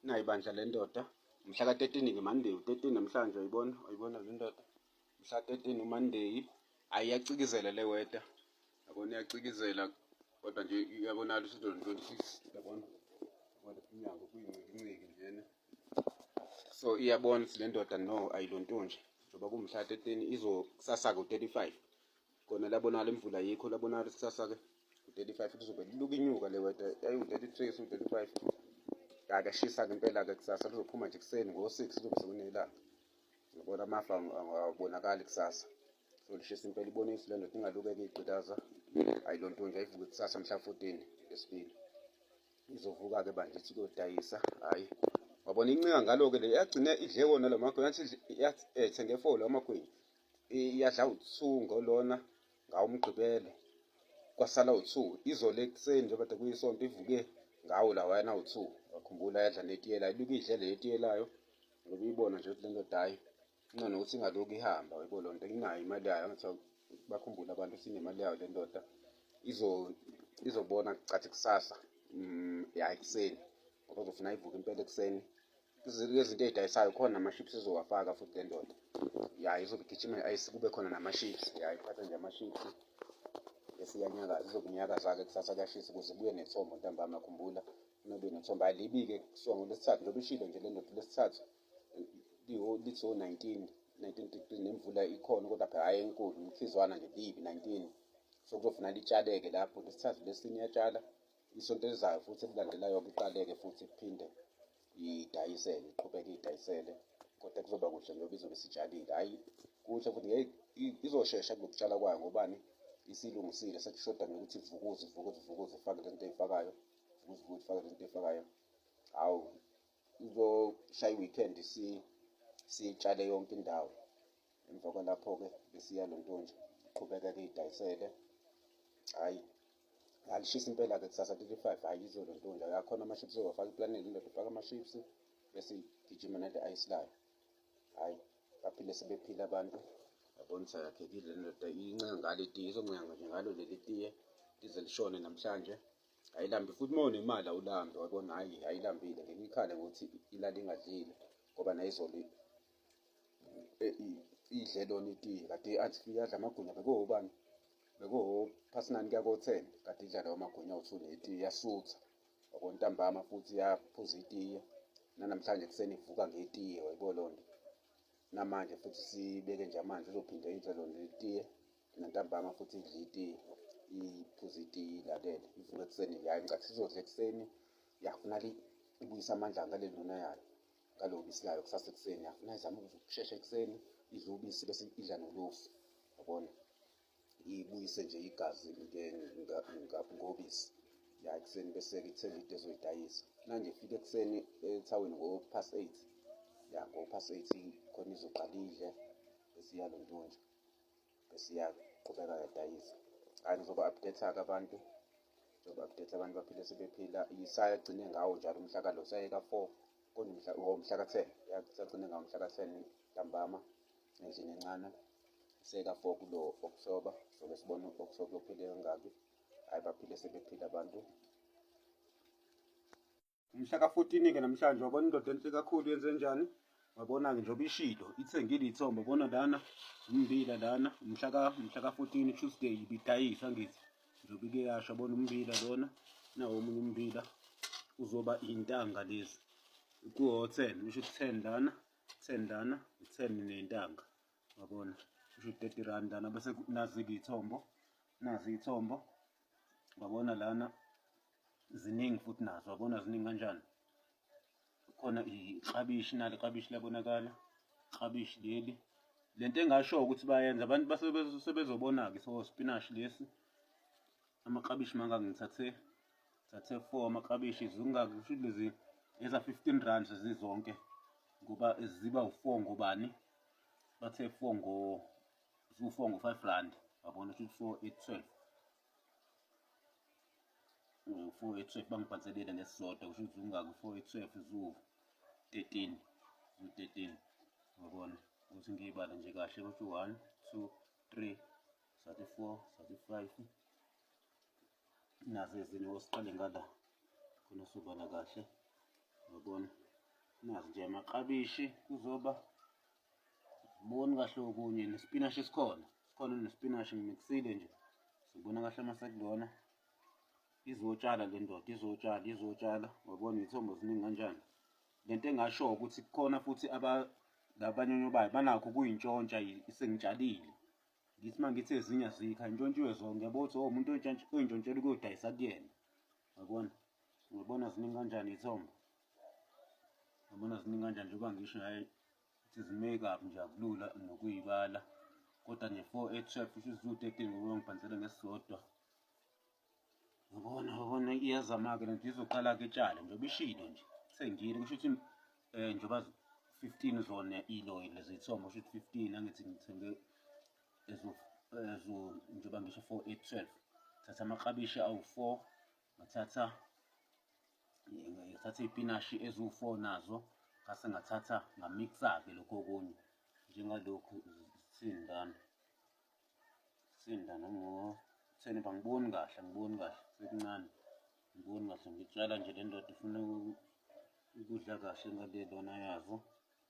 nayi bandla le ndoda mhla ka-13 ke monday u-13 namhlanje uyibona uyibona le ndoda mhla 13 umonday ayi iyacikizela le weda yabona iyacikizela kodwa nje iyabonala ukuthi 26 yabona kodwa inyanga kuyincikinciki njena so iyabona ukuthi le ndoda no ayilonto nje njengoba kumhla 13 izo kusasa ku-35 Kona labonala imvula yikho labonala ikusasa ke. 35 lizobe liluka inyuka le weather. Yayi 33 so 35. Kaka shisa ke impela ke kusasa lizophuma nje kuseni ngo 6 lizobe sekunelanga. Ngibona amafa awabonakali kusasa. So lishisa impela ibona isilo ndoda ingalukeke igqitaza. Ayi lonto nje ayivuke kusasa mhla 14 lesibili. Izovuka ke banje ithi kodayisa. Hayi. Wabona incinga ngalo ke le yagcina idle wona lamakhona yathi yathi eh, thenge folo amakhona. iyadla uthu ngolona ngawumgqibelo kwasala uthu izolo ekuseni njengoba kade kuyisonto ivuke ngawo lawayana uthu wakhumbula yadla netiyela iluke idle le etiyelayo ngoba iyibona nje ukuthi le ndoda hayi incono ukuthi ingaloku ihamba yebo loo nto inayo imali yayo angathiwa bakhumbule abantu sinemali yayo le ndoda izobona cathi kusasa mm, yayi ekuseni ngoba uzofuna ivuke impela ekuseni izinto ezidayisayo khona ama-chips ezowafaka futhi le ndoda ya izobe igijima i-ice kube khona nama-chips ya iphatha nje ama-chips esiyanyakaza izokunyakaza-ke kusasa kuyashisa ukuze ibuye nethombo ntambama khumbula nobe nethombo alibike kuthiwa ngolwesithathu lobe ishilo nje le ndoda lwesithathu lithi o-nineteen nineteen degree nemvula ikhona kodwa phela hhayi enkulu umkhizwana nje libi nineteen so kuzofuna litshaleke lapho lesithathu lesini iyatshala Isonto elizayo futhi elilandelayo kuqaleke futhi kuphinde idayisele iqhubeke idayisele kodwa kuzoba kuhle ngoba izobe sitshalile hhayi kuhle futhi ngeke izoshesha kunokutshala kwayo ngobani isilungisile sekushoda nokuthi ivukuze ivukuze ivukuze ifake lento eyifakayo ivukuze ivukuze ifake lento eyifakayo hawu izoshaya i-weekend siyitshale yonke indawo emva kwalapho-ke besiya lo ntonje qhubeka-ke idayisele hhayi alishisa impela ke kusasa 35 hayi izolo ntonja yakhona amaships owafaka iplaneli indoda ufaka amaships bese gijima nade ayislayo hayi baphile sebephila abantu yabona ukuthi akakhekile le ndoda incenga ngalo itiye izoncenga nje ngalo leli tiye lize lishone namhlanje ayilambi futhi uma unemali awulambi wabona hhayi ayilambile ngeke ikhale ngokuthi ilale ingadlile ngoba nayizolo idle lona itiye kade athi iyadla amagwinya bekowobani bekuwuphasinani kuya ko-ten kade idla lawo magunya awuthu netiye yasutha wakontambama futhi yaphuza itiye nanamhlanje kuseni ivuka ngetiye wayibo loo nto namanje futhi sibeke nje amanzi uzophinde idle lona letiye nantambama futhi idle itiye iphuze itiye ilalele ivuka ekuseni yayi ngicathi sizodla ekuseni yafuna ibuyisa amandla ngaleluna yayo ngalo bisi layo kusasa ekuseni afuna izama ukushesha ekuseni idle ubisi bese idla nolufu yabona ibuyise nje igazi ngobisi ya ekuseni bese-ke ithenge into ezoyidayisa manje ifike ekuseni ethaweni ngo-pass eight ya ngo-pass eight khona izoqala idle esiyalo ntonje bese iyaqhubeka yadayisa hayi ngizoba update-ke abantu njengoba kudetha abantu baphile sebephila isagcine ngawo njalo umhla ka lo sayeka four kodwa umhla umhla ka ten sagcine ngawo umhla ka ten ntambama endlini encane seka four kulo oktoba soke sibone oktoba kuyophile kangaki hhayi baphile sebephila abantu Umhla ka-14-ke namhlanje wabona indoda enhle kakhulu yenze njani? Wabona-ke njengoba ishilo ithengile iy'thombe bona lana umbila lana umhla ka-14 Tuesday ibidayisa ngithi njengoba ike yasho bona umbila lona nawo omunye umbila uzoba iy'ntanga lezi kuwo-ten usho ukuthi ten lana ten lana ten ney'ntanga wabona usho ukuthi thirty rand lana bese nazi-ke iy'thombo nazi iy'thombo wabona lana ziningi futhi nazo abona ziningi kanjani khona iklabishi nalo iklabishi labonakala iklabishi leli lento engasho ukuthi bayenza abantu basebezobona-ke so spinashi lesi amaklabishi mangaka ngithathe thathe four amaklabishi zingaki kusho lezi eza-fifteen rand zizonke ngoba ziba u-four ngobani bathe four ngo ziwu-four ngo-five rand wabona ukuthi four eight twelve u-four ye twelve bangibhanselile ngesisodwa kusho ukuthi ungaki u-four ye twelve zu-thirteen zu-thirteen ngabona ukuthi ngiyibala nje kahle ukuthi one two three sathi four sathi five nazo ezinye wosiqale ngala khona sobala kahle ngabona nazi nje amaklabishi kuzoba Boni kahle okunye nesipinashi sikhona. Sikhona nesipinashi ngimixile nje. Sibona kahle uma sekulona. Izotshala le ndoda, izotshala, izotshala. Wabona izithombo ziningi kanjani. Lento engasho ukuthi kukhona futhi aba labanyonyo bayo banakho kuyintshontsha sengitshalile. Ngithi mangithi ezinye azikho intshontshiwe zonke yabo ukuthi oh, umuntu oyintshontshela ukuyodayisa kuyena. Yabona? Ngibona ziningi kanjani izithombo. Ngibona ziningi kanjani njengoba ngisho naye ukuthi zi-make up nje akulula nokuyibala kodwa nje four eight twelve kusho ukuthi ziwu-thirteen ngoba ngibhanisele ngesisodwa ngibona ngibona iyazama-ke lento izoqala ke tshale njengoba ishilo nje sengile kusho ukuthi um eh, njengoba fifteen zona iloyi lezi yithombo kusho ukuthi fifteen angithi ngithenge ezo njengoba ngisho four eight twelve thatha amaklabishi awu-four ngathatha ngathatha iy'pinashi eziwu-four nazo ngase ngathatha ngamiksa-ke lokhu okunye njengalokhu sindana sindana ngotheni uba ngiboni kahle angiboni kahle sekuncane ngiboni kahle ngitshala nje le ndoda ifuna ukudla kahle ngalelona yazo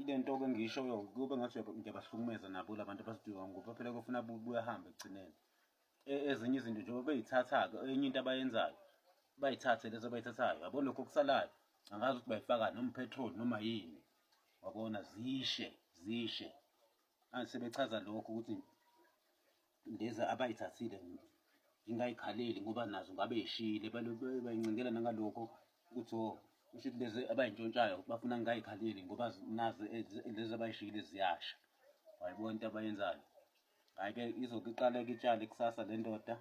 ile nto ke ngishoyo kube ngathi ngiyabahlukumeza nabo labantu abasiduka ngoba phela kufuna buyahambe ekugcineni e, ezinye izinto njengoba beyithatha-ke enye into abayenzayo bayithathe lezo abayithathayo yabo lokho okusalayo angazi ukuthi bayifaka noma uphethroli noma yini wabona zishe zishe manje sebechaza lokho ukuthi lezi abayithathile ingayikhaleli ngoba nazo ngabe ishile bayincindela nangalokho ukuthi o oh, kusho ukuthi lezi abayintshontshayo bafuna ngingayikhaleli ngoba nazo eh, lezi abayishile ziyasha wayibona into abayenzayo hhayi-ke izoke iqale kitshale kusasa le ndoda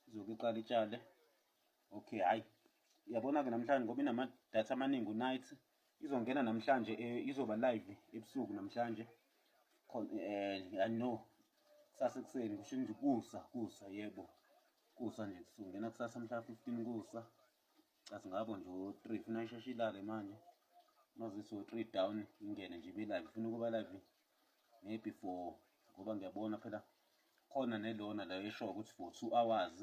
izoke iqale itshale okay hhayi uyabona-ke namhlanje ngoba inamadatha amaningi unight izongena namhlanje eh, izoba live ebusuku namhlanje eh i know kusasa ekuseni kusho nje kusa kusa yebo kusa nje kusungena kusasa mhla 15 kusa cathi ngabo nje u3 funa isheshe ilale manje mazisi u3 down ingene nje be live funa ukuba live maybe for ngoba ngiyabona phela khona nelona la esho ukuthi for 2 hours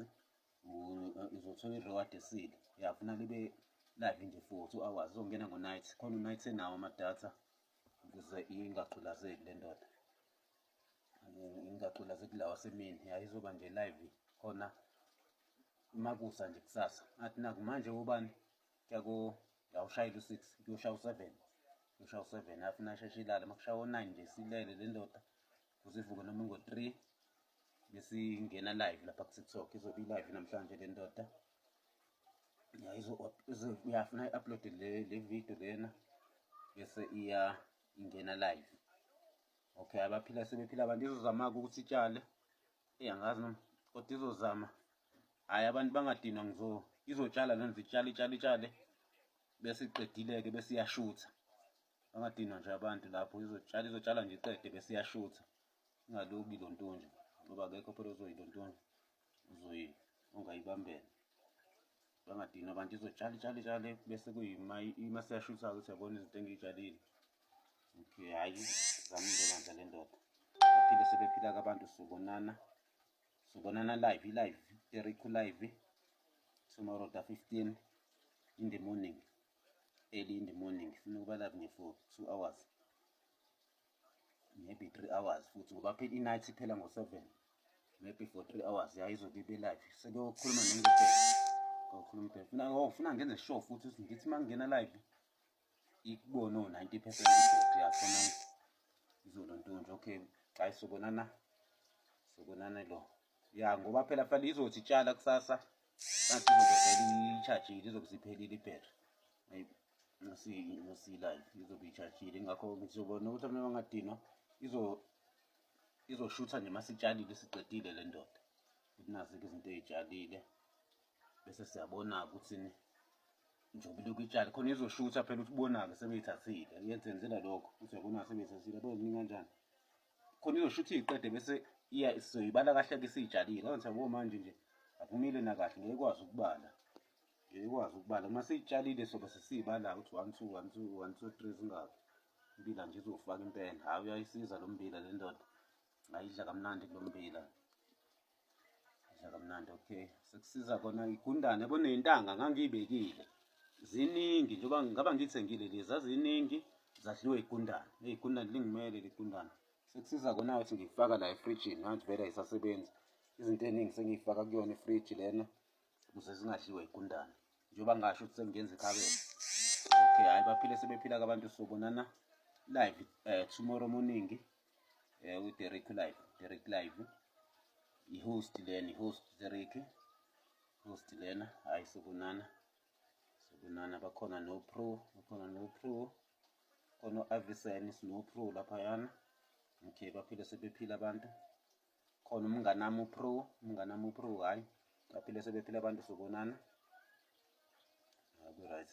uzothola i-reward esile uyafuna libe live nje for two hours uzongena ngo-night khona u-night enawo amadatha ukuze ingagculazeki le ndoda ingagculazeki lawa semini yayizoba nje live khona makusa nje kusasa athi naku manje ubani kyako yawushayela u-six kuyoshaya u-seven kuyoshaya u-seven afuna asheshe ilale uma kushaya o-nine nje silele le ndoda uzivuke noma ngo-three besingena live lapha kutiktok izobe i-live namhlanje le ndoda uyafuna i-upload le video lena bese iya ingena live okay abaphila sebephila abantu izozama-ke ukuthi itshale eyi angazi noma kodwa izozama hhayi abantu bangadinwa ngizo izotshala lento itshale itshale itshale bese iqedile-ke bese iyashutha bangadinwa nje abantu lapho izotshala izotshala nje iqede bese iyashutha ingaloki lo ntonje ngoba akekho phela ozoyi lo ntonje uzoyi ongayibambela bangadinwa abantu izotshala itshale itshale bese kuyima ima seyashutha ukuthi yabona izinto engiyitshalile okay hhayi zama indlela le ndoda baphile sebephila kabantu sobonana sobonana live i-live teriku live tomorrow the 15 in the morning early in the morning ngifuna ukuba live nge for two hours maybe three hours futhi ngoba phela i-night iphela ngo-seven maybe for three hours yayizobe ibe live sekuyokhuluma nengibheke ngokhuluma ibheke funa oh, funa ngenze sure futhi ukuthi ngithi uma ngingena live ikubone o-ninety percent ibheke yakhona izolo ntonje okay hayi sobonana sobonana lo ya ngoba phela kufanele izothi itshala kusasa kanti izokuvele iyitshajile izokuziphelile ibhetri ngosilayo izobe iyitshajile ngakho ngizobona ukuthi amntu angadinwa izoshutha nje masitshalile siqedile le ndoda ukuthi nazi-ke izinto eyitshalile bese siyabona-ke ukuthi njengoba ilokhu itshale khona izoshutha phela ukuthi ubona-ke sebeyithathile yenzenzela lokho ukuthi yabona sebeyithathile abazinika kanjani khona izoshutha iyiqede bese iya sizoyibala kahle ke siyitshalile ngakho ngithi manje nje akumile nakahle ngeke ikwazi ukubala ngeke ikwazi ukubala uma siyitshalile sobe sesiyibala ukuthi one two one two one two three zingaki umbila nje izofaka impela hhayi uyayisiza lo mbila le ndoda ngayidla kamnandi kulo mbila Dla kamnandi okay. Sekusiza kona igundane boneyintanga ngangiyibekile. Ziningi njengoba ngaba ngithengile lezi zaziningi zadliwe igundane. Hey igundane lingimele ligundane. Sekusiza kona ukuthi ngifaka la efrijini manje vele ayisasebenzi. Izinto eziningi sengiyifaka kuyona ifriji lena ukuze zingadliwe igundane. Njengoba ngasho ukuthi sengenza ikhabethe. Okay hayi baphile sebephila kabantu sobonana live uh, tomorrow morning eh u Derek live Derek live i host leni host Derek host lena hayi sokunana sokunana bakhona no pro bakhona no pro khona u-avisen sino pro laphayana okay baphile sebephila abantu khona umnganami upro umnganami upro hhayi baphile sebephila abantu sobonana hayi ku-right